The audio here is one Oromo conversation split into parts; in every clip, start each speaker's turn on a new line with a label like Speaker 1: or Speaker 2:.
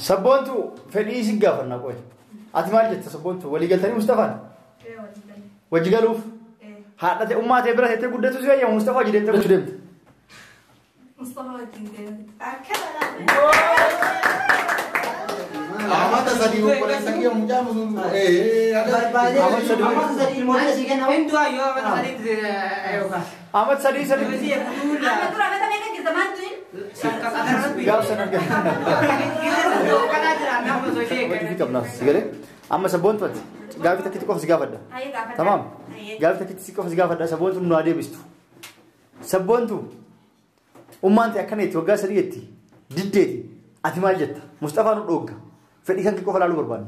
Speaker 1: Sabboontu fedhii isin gaafanna qoy. Ati maal jetta sabboontu walii galtanii Mustafaan? Wajji galuuf? Haadha ta'e ummaa ta'e bira teettee guddatu si fayyama Mustafaa jireenya gochuu deemte.
Speaker 2: Amata sadii obboleessa kiyya mucaa musuun. Amata sadii
Speaker 3: ilmoo keessi kenna. Hindu ayyoo amata sadii.
Speaker 4: Amat sadii
Speaker 1: saditti.
Speaker 5: Amma
Speaker 1: dura mata meeqa jirta maaltu hin? Gaaf sana Hojii qabnaaf si galee. Amma sabboontu ati. Gaafii takkitti qofa si gaafadha. Haye gaafadha. Tamaam. Haye. Gaafii takkitti si qofa si gaafadha. Sabboontu nu haa deebistu. Sabboontu ummaan ta'e akkana jetti waggaa sadii jetti. Diddeeti. Ati maal jetta? Musxafaa nu dhoogga. Fedhii kan kee qofa ilaaluu barbaadna.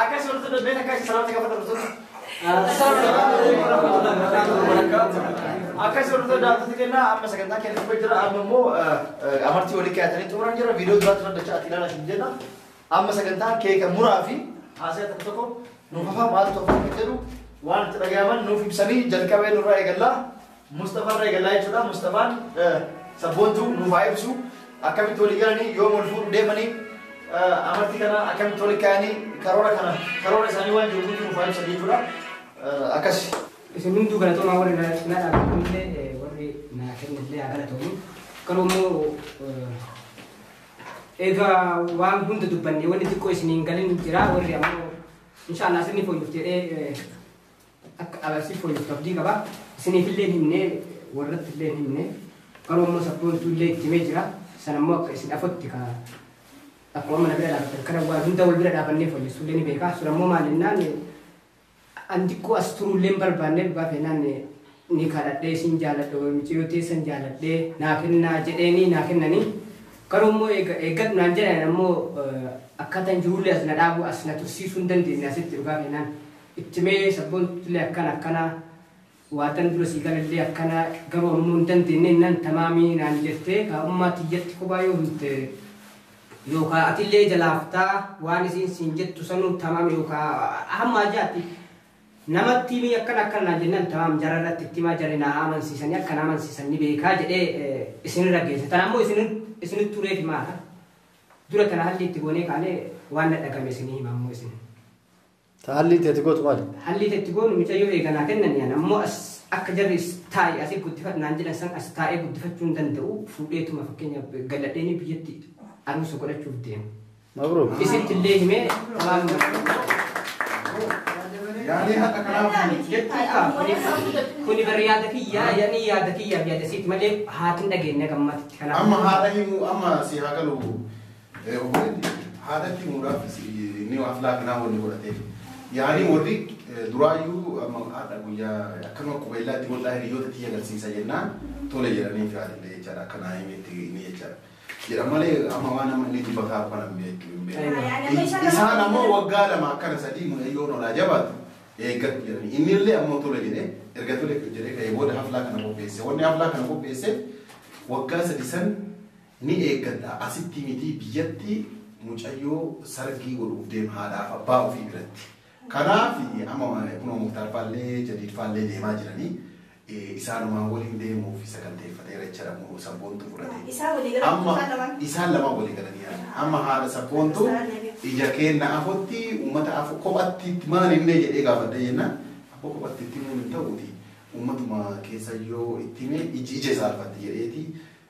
Speaker 5: Akkas
Speaker 1: wanti dubbii
Speaker 3: akka isa salaamta gafata dhufuuf. Akkas wanti
Speaker 1: daawwatu kenna amma sagantaa keenya dhufee jira amma immoo amartii walii kaa'atanii xumuran jira viidiyoo duraa turan dachaa ati ilaalaa isin jenna amma sagantaa keeka muraa fi haasaya tokko tokko nuuf hafaa maal tokko jedhu waan itti dhagayaman nuuf ibsanii jalqabee nurraa eegallaa. Mustafa irraa eegallaa jechuudha. Mustafaan sabboontuu nuuf haa ibsu. Akkamitti walii galanii yoom wal fuudhu deemanii amartii kana akkamitti walii kaayanii karoora kana karoora isaanii waan jiru hundi nuuf haa ibsan jechuudha. Akkas. Isin hunduu
Speaker 4: galatoomaa warri na na dhaabbatanillee warri na kennillee haa galatoomu. Garuu immoo egaa waan hunda dubbanne wanni xiqqoo isiniin galin jira warri ammoo inshaallah isinni fooyyuuf jedhee akka Arabsiif fooyyessu abdii qaba. Isiniifillee hin himne, warrattillee hin himne. Garuu immoo sabboontuullee itti himee jira. Sana immoo akka isin afotti ka akkuma amma na bira dhaabatan kana waan hunda wal bira dhaabannee fooyyessuullee ni beeka. Sun ammoo maal jennaan an xiqqoo as turuullee hin barbaanne dhugaa keenyaan ni kadhadhee isin jaaladhe wal miciyoo teessan jaaladhee naa kennaa jedheenii naa kennanii. Garuu immoo eega- eeggadhu naan jedhan ammoo eh, akkaataan jiruullee as na dhaabuu as na tursiisuu hin dandeenye asitti dhugaa keenyaan. itti mee sabbontutillee akkana akkana waatan dura sii galallee akkana garuu ammoo hin dandeenne innaan tamaamii naan jettee kaa ummaa tiyyatti kophaa yoo himte yookaa atillee jalaaftaa waan isiin siin jettu sanuu tamaam yookaa hamma ajaatti namatti himii akkana akkana naan jennaan tamaam jara irratti itti himaa jari naa amansiisanii akka na amansiisan ni beekaa jedhee eh, isinirra geesse tan ammoo isin isinit tureef himaadha dura tana halli itti goonee kaanee waan na dhagame isinii hima ammoo isin Ta hallii
Speaker 1: itti ati gootu maali? Hallii ta itti goonu
Speaker 4: micayyoo eega naa kennanii an ammoo as akka jarri is taa'i asi guddifadhu naan jedhan san as taa'ee guddifachuu hin danda'u fuudheetuma fakkeenyaaf galladheenii biyyatti aruusa godhachuuf deema. Mabruuk. Isitti
Speaker 1: illee himee
Speaker 4: waan Yaadee haqa karaa jechuun kaa kuni kuni bar yaada kiyyaa yani yaada kiyyaaf yaada siiti malee haatiin dhageenye gammaatti kanaaf. Amma haadha himuu
Speaker 2: amma si haa galu Obboleetti haadhatti himuudhaaf inni waan filaa kanaa wanni godhateef yaanii warri duraayyuu amma haadha guyyaa akkanuma qubeellaa itti godhaa hiriyoota tiyya agarsiisa jennaan tole jedhanii firaadillee jechaadha akka naa himetti inni jechaadha. Jedha malee amma waan amma inni dubbataa arfan hin beektu hin beektu. Isaan ammoo waggaa lama akkana sadii mucayyoon olaa jabaatu eeggadhu jedhanii inni illee ammoo tole jedhee erga tole jedhee ka'ee booda haflaa kana qopheesse wanni haflaa kana qopheesse waggaa sadi san Ni eeggadha asitti mitii biyyatti mucayyoo sargii godhuuf deema haadhaaf abbaa ofii biratti. Kanaaf amma kunoo Muktaar faallee Jadiid faallee deemaa jiranii isaanumaan waliin deemuuf saganteeffateera jechaadha kunoo sabboontuu fudhatee. Isaan walii galan Amma isaan lamaan. isaan lamaan walii galanii yaa'u. Amma haadha sabboontuu Isaan deebiif. ija keenna afotti uummata afo kophatti itti maal himnee jedhee gaafadhee jennaan abba kophatti itti himuun hin ta'uuti uummatuma keessa yoo itti himee iji ija isaa arfatti jedheeti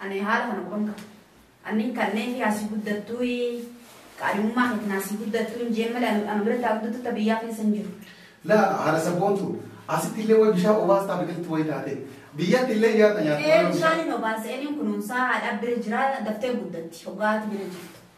Speaker 5: Ani haala kana quban qaba. Annin kanneen kiraa si guddattuui, qaadhimummaa kee kanaa si guddattuu hin jeen malee ana biratti haa guddattuu ta biyyaa keessa hin jiru. Laa
Speaker 2: haadha sabboontu asitti illee way bishaan obaastaa biqiltuu way taate biyyatti illee nyaata nyaatti Ee bishaan hin
Speaker 5: obaasa, eenyuun kunuunsaa haadhaa bira jira daftee guddatti hoggaa haati bira jirtu.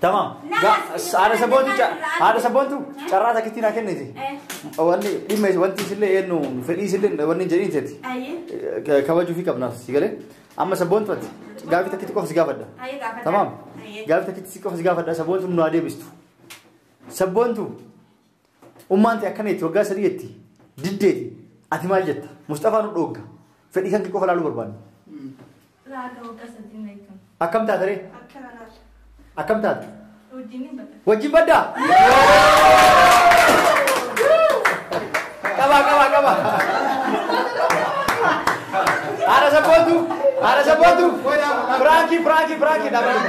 Speaker 1: Tamam. Haadha sabboontu haadha sabboontu carraa takkitti naa kenniti. Wanni dhimma wanti isillee eenyu fedhii isillee wanni jedhiin teeti. Kabajuu fi qabnaaf si galee. Amma sabboontu ati gaaffii takkitti qofa si gaafadha. Tamam. Gaaffii takkitti qofa si gaafadha sabboontu nu haa deebistu. Sabboontu. Ummaan tee akkana jetti waggaa sadii jetti diddeeti ati maal jetta Musxafaa nu dhoogga fedhii kan kee qofa laaluu barbaanna. Laaga waggaa sadii na eegamu. Akkam taate ree? Akkana laata. Akkam taate? Wajjin hin bada. Wajjin baddaa? Qabaa qabaa qabaa. Haadha sabbootu haadha sabbootu. Firaanki firaanki firaanki dhaabatu.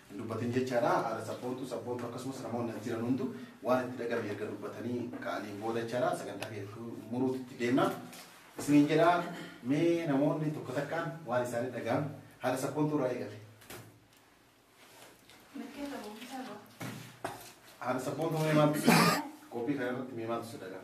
Speaker 2: hin dubbatin jechaadha. Haadha sabboontuu, sabboontuu akkasumas namoonni as jiran hundu waan itti dhagame erga dubbatanii ka'aniin booda jechaadha sagantaa keenya muruutti itti deemna. Isiniin jedha mee namoonni tokko takkaan waan isaanii dhaga'an haadha sabboontuu irraa eegale. Haadha sabboontuu mee maaltu si dhaga'e? Qophii kana irratti mee maaltu si dhaga'e?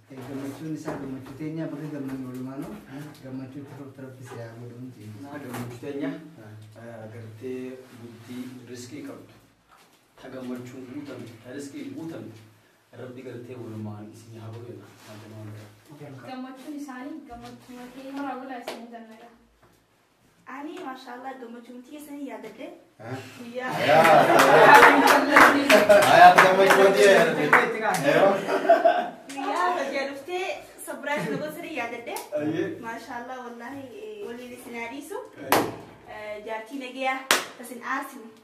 Speaker 6: Gammachuun isaa gammachuu teenyaa bakka gammannu walumaanuu gammachuu itti fuftu rabbi si haa godhu hundi. Naa gammachuu teenya
Speaker 3: gartee bultii riskii qabdu ta gammachuun guutamte ta riskiin guutamte rabbi gartee walumaan isin haa godhu jedha. Gammachuu. Gammachuun isaanii gammachuu makeenya.
Speaker 7: Horaa bulaa isin hin jannata. Ani mashallah gammachuun tiyya sanii yaadadhe guyyaa
Speaker 2: Ayaat gammachuu tiyya yaadadhe. guyyaa
Speaker 7: bajjaa dhuftee sabiraas na gosa sanii yaadadhe mashallah wallahi waliin isin haa dhiisu jaartii nagayaa isin aasinu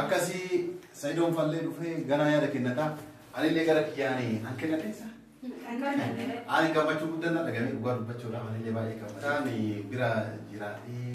Speaker 2: Akkasii Sayidoon fallee dhufee ganaa yaada kennataa. Anillee gara kiyyaanii an kennateessa. Ani gammachuu guddaa na dhagahame dhugaa dubbachuudhaaf anillee baay'ee gammadaa. Ani bira jiraatee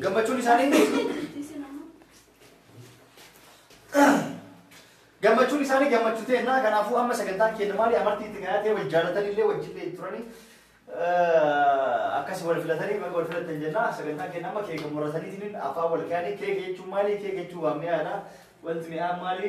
Speaker 1: Gammachuun isaanii gammachuun isaanii gammachuu ta'e naa kanaafuu amma sagantaan keenya maali amartii itti gahatee wal jaallatanii illee wajjin itti turanii akkas wal filatanii wal filatan jenna sagantaan keenya amma keeka murataniitiin afaan wal kaanii keeka jechuun maali keeka jechuun waan mi'aadha wanti mi'aan maali